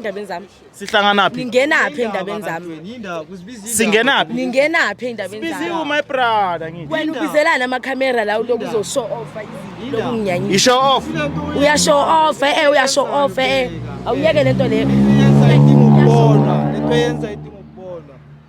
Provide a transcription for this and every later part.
endabeni zami sihlanganaphi ningenaphi endabeni zami singenaphi ningenaphi endabeni zami biziwe my brother ngithi wena ubizelana ama camera la uloku uzo show off lokunginyanyisa isho off uya show off eh uya show off eh awuyeke lento le yenza idinga ukubonwa lento yenza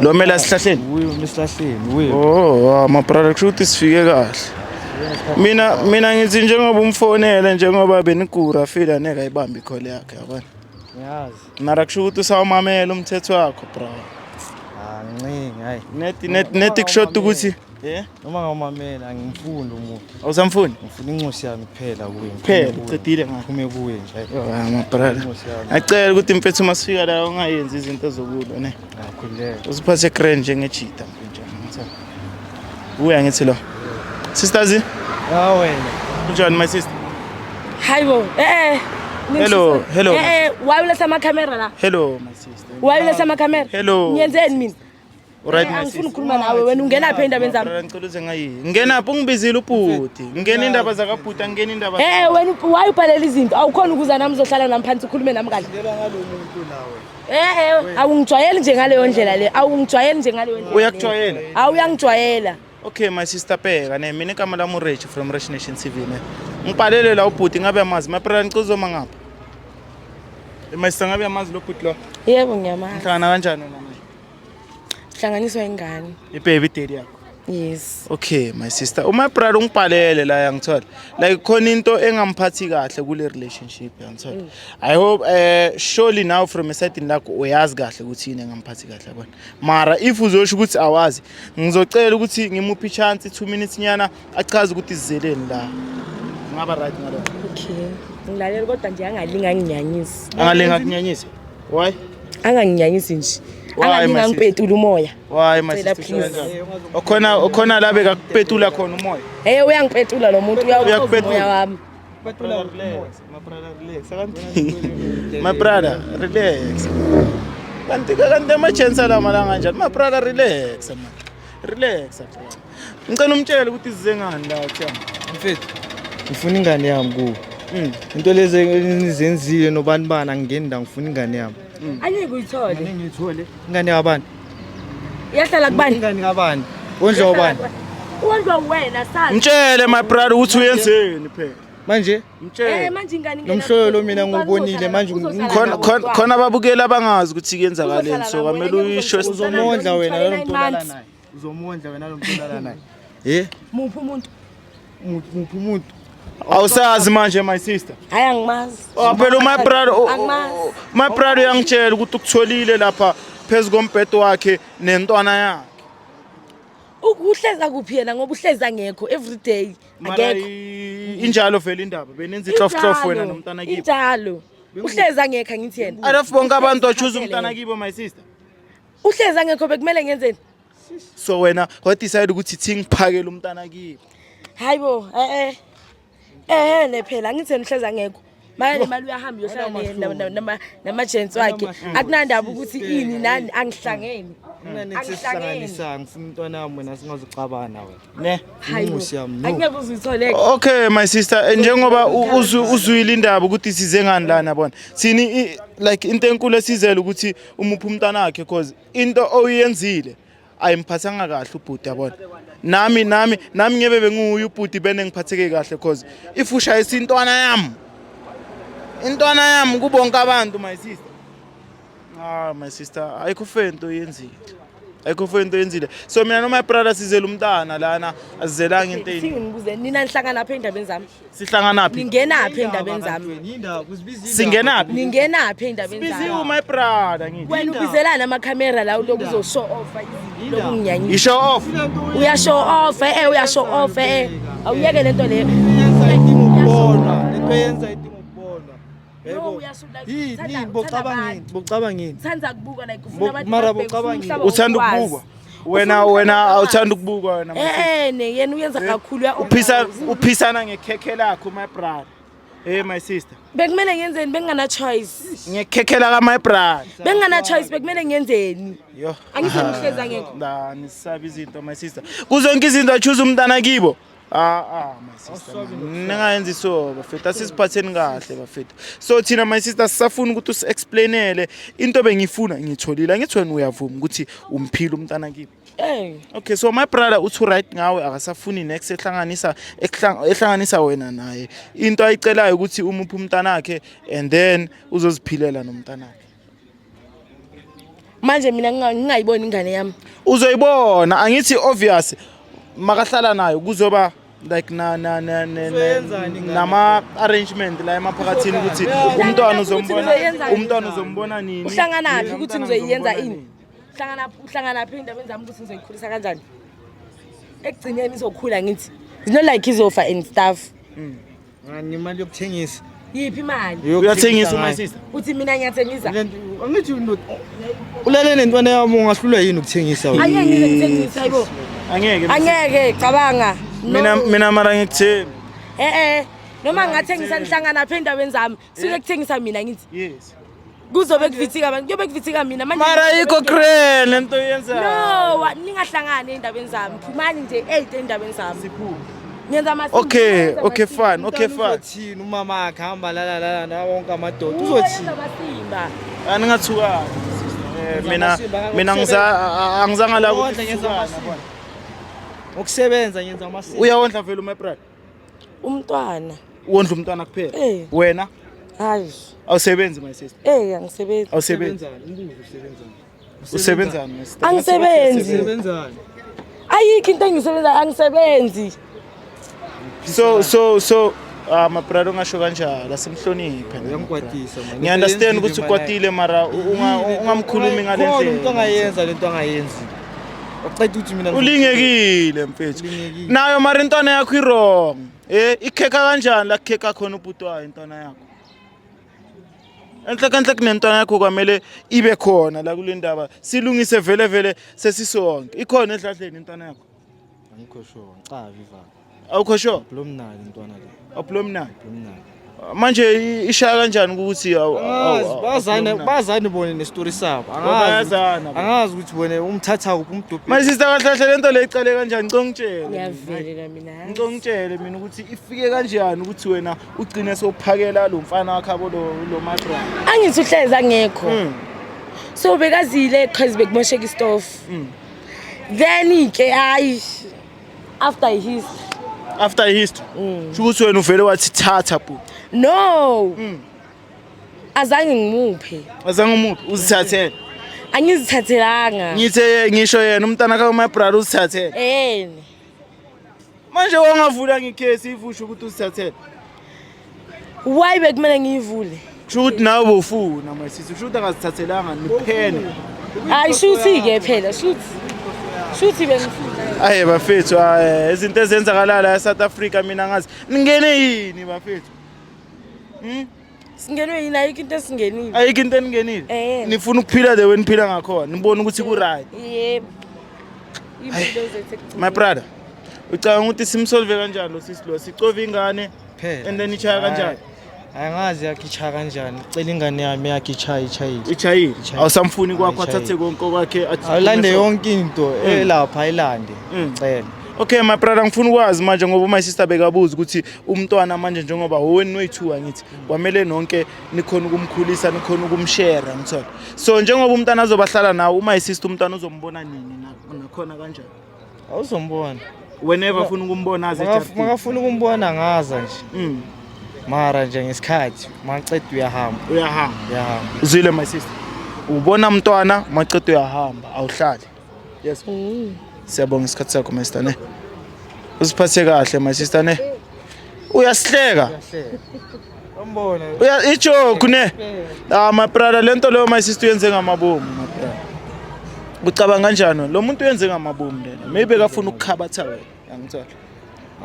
Lo mele asihlahleni. Uye umesihlahleni, uye. Oh, ah, ma brother kushuthi sifike kahle. Mina mina ngithi njengoba umfonele njengoba benigura feel aneka ibambi call yakhe yabona. Ngiyazi. Mara kushuthi usawumamela umthetho wakho bro. Ah, ncingi, hayi. Net net net kushoda ukuthi Yeah. Noma ngawumamela angimfuni lo muntu. Awusamfuni? Ngifuna incosi yami kuphela kuye. Kuphela ucedile ngayo. Phume kuye nje. Yona my brother. Incosi yami. Acela ukuthi mfethu uma sifika la ungayenzi izinto zokulwa ne. Ngakhuleka. Usiphathe grand njengejita mfethu. Uya ngithi lo. Sisters. Ah wena. Unjani my sister? Hayibo. Eh eh. Hello, hello. Eh eh, why ulesa ama camera la? Hello my sister. Why ulesa ama camera? Hello. Ngiyenzeni mina? Alright my angifuni sis. ukukhuluma nawe wena ungena phi endabeni zami Brother, ngicela uze ngayi. Ngena phi ungibizile ubhuti. Ngena indaba zakabhuti, angena indaba. Eh wena up- why ubhalela izinto awukhona ukuza nami uzohlala nami phansi ukhulume nami kahle Ngela ngalo muntu nawe. Eh eh awungijwayeli nje ngaleyo ndlela le awungijwayeli nje ngaleyo ndlela Uyakujwayela. awu uyangijwayela Okay my sister Peka, ne mina igama lami uRich from Rich Nation TV ne. Ngibhalele la ubhuti ngabe amazi. My brother ngicela uzoma ngapha. Eh, My sister ngabe amazi lo bhuti lo. yebo ngiyamazi Ngihlangana kanjani wena? Hlanganiswa ingane. Ibaby daddy yakho. Yes. Okay my sister. Uma brother ungibhalele la yangithola. Like khona into engamphathi kahle kule relationship yangithola. Mm. I hope eh surely now from a certain lakho uyazi kahle ukuthi yini engamphathi kahle yabona. Mara if uzosho ukuthi awazi ngizocela ukuthi ngimuphi chance 2 minutes nyana achaze ukuthi izeleni la ngaba right ngalo okay ngilalela kodwa nje angalinga nginyanyisi angalinga kunyanyisa why anganginyanyisi nje angalinga ngipetula umoya why my sister okhona okhona la beka kupetula khona umoya hey uyangipetula lo muntu uyakupetula wami my brother relax my brother relax kanti kanti amachance alamalanga njani my brother relax relax Ngicela umtshele ukuthi size ngani la Themba. Mfethu, ngifuna ingane yami kuwe. Mm. Into lezi enizenzile nobani bani angingeni la ngifuna ingane yami. Mm. Angeke uyithole. Ngeke ngiyithole. Ingane yabani? Iyahlala kubani? Ingane kabani? Wondla ubani? Wondla wena sazi. Mtshele my brother ukuthi uyenzeni phela. Manje? Mtshele. Eh manje ingane ngena. Nomhloyo lo mina ngubonile manje khona khona ababukeli abangazi ukuthi kuyenzakaleni so kwamele uyisho uzomondla wena lo mntwana naye. uzomondla wena lo mntwana naye eh muphi umuntu muphi umuntu awusazi manje my sister hayi angimazi oh, phela my brother oh, oh, my brother uyangitshela ukuthi ukutholile lapha phezu kombhedo wakhe nentwana yakhe uhleza kuphi yena ngoba uhleza ngekho every day akekho injalo vele indaba benenza ihlofhlof wena nomntana kibo injalo uhleza ngekho angithi yena alafu bonke abantu ochuza umntana kibo my sister uhlezi angekho bekumele ngenzeni so wena wadecide ukuthi thi ngiphakele umntana kimi hayi bo eh eh ne phela angithi nihlezi angekho manje le mali uyahamba uyohlala namajentsi wakhe akunandaba ukuthi ini nani angihlangeni okay my sister eh, njengoba uzwile indaba ukuthi size ngani lana bona sini like into enkulu esizele ukuthi umuphi umntanakhe cause into oyenzile ayimphathanga kahle ubhuti yabona nami nami nami ngebe benguye ubhuti bene ngiphatheke kahle cause if ushayisa intwana yami intwana yami kubonke abantu my sister ah my sister ayikho fento oyenzile ayikho fento oyenzile so mina no my brother sizela umntana lana asizelanga into yini ngibuze nina nihlangana lapha endabeni zami sihlanganaphi ningenaphi endabeni zami singenaphi ningenaphi endabeni zami biziwe my brother ngithi wena ubizelana ama camera la uloku uzo show off lokunginyanyisa i show off uya show off eh uya show off eh awuyeke lento leyo yenza idinga ukubonwa lento yenza uthanda ukubukwa wena wena awuthanda ukubukwa wena ene eh, yena uyenza eh, kakhulu uphisa uphisana ngekhekhe lakho my brother Hey my sister. Bekumele ngenzeni bengingana choice. Ngiyekhekhela ka my brother. Bengingana choice bekumele ngenzeni. Yo. Angizomuhleza ngekho. La nisaba izinto my sister. Kuzonke izinto choose umntana kibo. Ah, ah, my sister man. ningayenza iso bafethu asiziphatheni kahle bafethu so thina my sister sisafuna ukuthi usi-explainele into bengiyifuna ngiyitholile angithi wena uyavuma ukuthi umphile umntana kibi Eh, okay so my brother uthi right ngawe akasafuni next ehlanganisa ehlang- ehlanganisa wena naye into ayicelayo ukuthi umuphe umntanakhe and then uzoziphilela nomntanakhe manje mina ngingayiboni ingane yami uzoyibona angithi obvious makahlala nayo kuzoba like na na na nama arrangement la emaphakathini ukuthi umntwana uzombona umntwana uzombona nini uhlangana phi ukuthi ngizoyenza ini uhlangana uhlangana phi indabeni zami ukuthi ngizoyikhulisa kanjani ekugcineni izokhula ngithi you know like izofa and stuff mm. Ngimali yokuthengisa. Yiphi imali? Uyathengisa uma sister. Uthi mina ngiyathengisa. Angithi ulele nentwana yami ungahlulwa yini ukuthengisa wena? Angeke ngize ngithengise hayibo. Angeke. Angeke cabanga. Mina mina mara ngikuthembi. Eh eh. Noma ngathengisa nihlangana phi endaweni zami? Sule kuthengisa mina ngithi. Yes. Kuzobe kuvithika abantu. Kuyobe kuvithika mina manje. Mara yikho crane lento yenza. No, wa- ningahlangani endabeni zami. Phumani nje eight endabeni zami. Siphuma. Ngenza ama Okay, okay fine, okay fine. Uzothini umama akhe hamba la la la na wonke amadoda. Uzothini? Uzothini? Ani ngathuka. Eh, Mina mina ngiza a- a- angizanga la Wondla ngenza ukuthi amasimba. Ngokusebenza ngenza amasimba. uyawondla vele uMebrad. umntwana wondla umntwana kuphela Eh. wena hayi awusebenzi my sister eh angisebenzi awusebenzi usebenzani my sister angisebenzi Sebenzani? ayikho into engisebenza angisebenzi so so so ah mabrada ungasho kanjalo asimhloniphe Uyamkwatisa manje. ngiy understand ukuthi Usebenzile, ukwatile mara unga- ungamkhulumi ngale Khona umuntu ndlela ongayenza lento angayenzi. Uceda ukuthi mina ulingekile mfethu Ulingekile. nayo mara intwana yakho irong e ikhekha kanjani la kukhekha khona ubhuti wayo intwana yakho enhle kanhle kunentwana yakho kwamele ibe khona la kule ndaba silungise vele vele sesisonke ikhona edladleni intwana yakho angikho sure ngicabi vaka. Awukho sure? Blomnali ntwana le. Oblomnali. Blomnali. Manje i- ishaya kanjani ukuthi awu- awu- Angazi awu- bazane Blomnali? bazane bone nestory sabo. Angazi. Bayazana. ukuthi- Angazi ukuthi bone umthatha kuphi umdobhi. My sister kahle kahle lento le iqale kanjani? Ngicela ungitshele. ngiyavelela mina Ngicela ungitshele mina ukuthi ifike kanjani ukuthi wena ugcine sophakela lo mfana wakhe abo lo lo madra. angithi uhlezi angekho Mm. so bekazile qhazi bekimosheka istofu then ke hayi after i history after i history mm. sho ukuthi wena uvele wathi thatha bhuti no mm. azange ngimuphe azange umuphe uzithathele angizithathelanga ngithe ngisho yena umntana ka my brother uzithathele eh manje wangavula ngikhesi ivusho ukuthi uzithathele why bekumele ngiyivule kusho ukuthi nawe bofuna my sister kusho ukuthi angazithathelanga niphene hayi shuthi-ke phela shuthi shuthi bengifuna aye bafethu eh, izinto ezenzakalala e-south africa mina ngazi ningene yini bafethu hmm? singenwe yini ayikho into esingenile ayikho into eningenile eh. nifuna ukuphila the way niphila ngakhona nibone ukuthi ku-right yebo my brother ucabanga ukuthi simsolve kanjani lo sisi lo sicove ingane kuphela and then ichaya kanjani hayi angazi yakichaya kanjani cela ingane yami yakichaya ichayile ichayile Ichayile. awusamfuni kwakho Ichayile. athathe konke okwakhe athi- awulande yonke into Mm. elapha ayilande Mm. cela okay my brother ngifuna ukwazi manje ngoba my sister bekabuza ukuthi umntwana manje njengoba wowenu noyi-two angithi kwamele nonke nikhona ukumkhulisa nikhona ukumshera ngithola so njengoba umntwana azobahlala nawo uma sister umntwana uzombona nini na- nakhona kanjani awuzombona whenever Ma- ufuna ukumbona aze Makaf- ejabhile. makafuna ukumbona ngaza nje Mm, mara nje ngesikhathi maqeda uyahamba uyahamba uyahamba uzwile my sister ubona mntwana macedo uyahamba awuhlali yes siyabonga isikhathi sakho my sister ne uziphathe kahle my sister ne uyasihleka Uya ijoke ne. Ah my brother lento leyo my sister uyenze ngamabomu my brother. Ucabanga kanjani lo muntu uyenze ngamabomu lena. Maybe kafuna ukukhabatha wena. Angithola.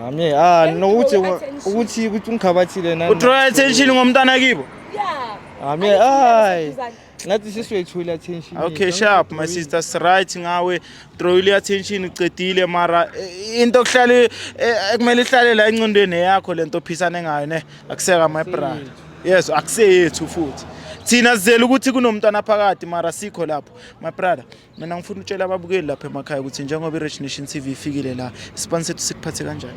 Ami ah nokuthi ukuthi ukuthi ungikhabathile nani. Uthola attention ngomntana kibo. Yeah. Ami ay. ngathi siswethule attention okay sharp my sister right ngawe throwile attention ucedile mara eh, into okuhlala eh, ekumele ihlale la encondweni yakho lento ophisane ngayo ne akuseka my brother yes akuseyethu futhi thina sizele ukuthi kunomntwana phakathi mara sikho lapho my brother mina ngifuna utshela ababukeli lapha emakhaya ukuthi njengoba i-rich nation tv ifikile la isibani sethu sikuphathe kanjani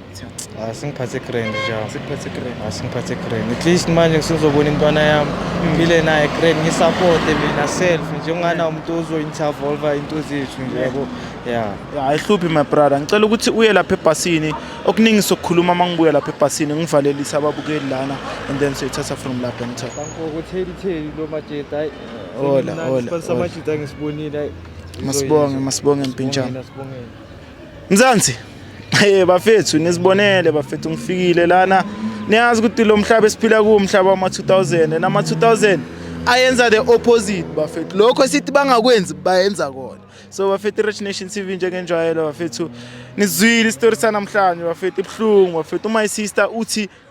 Ah, singiphathe grand njalo sikuphathe grand Ah, singiphathe grand at least manje ngisizobona intwana yami ngile naye grand ngisapporte mina self njengana umuntu ozointervolva into zethu nje yabo ya ya ayihluphi my brother ngicela ukuthi uye lapha ebhasini okuningi sokukhuluma uma ngibuya lapha ebhasini ngivalelise ababukeli lana and then soyithatha from lapha ngithatha Kankokutheli theli lo majeda Hola, hola. Sibasabajita ngisibonile. Masibonge, masibonge mpintshana. Mzansi. Eh bafethu nisibonele bafethu ngifikile lana. Niyazi ukuthi lo mhlaba esiphila kuwo umhlaba wama 2000 nama 2000 ayenza the opposite bafethu. Lokho sithi bangakwenzi bayenza kona. So bafethu Rich Nation TV njengenjwayelo bafethu. Nizwile isitori sanamhlanje bafethu ibuhlungu bafethu. My sister uthi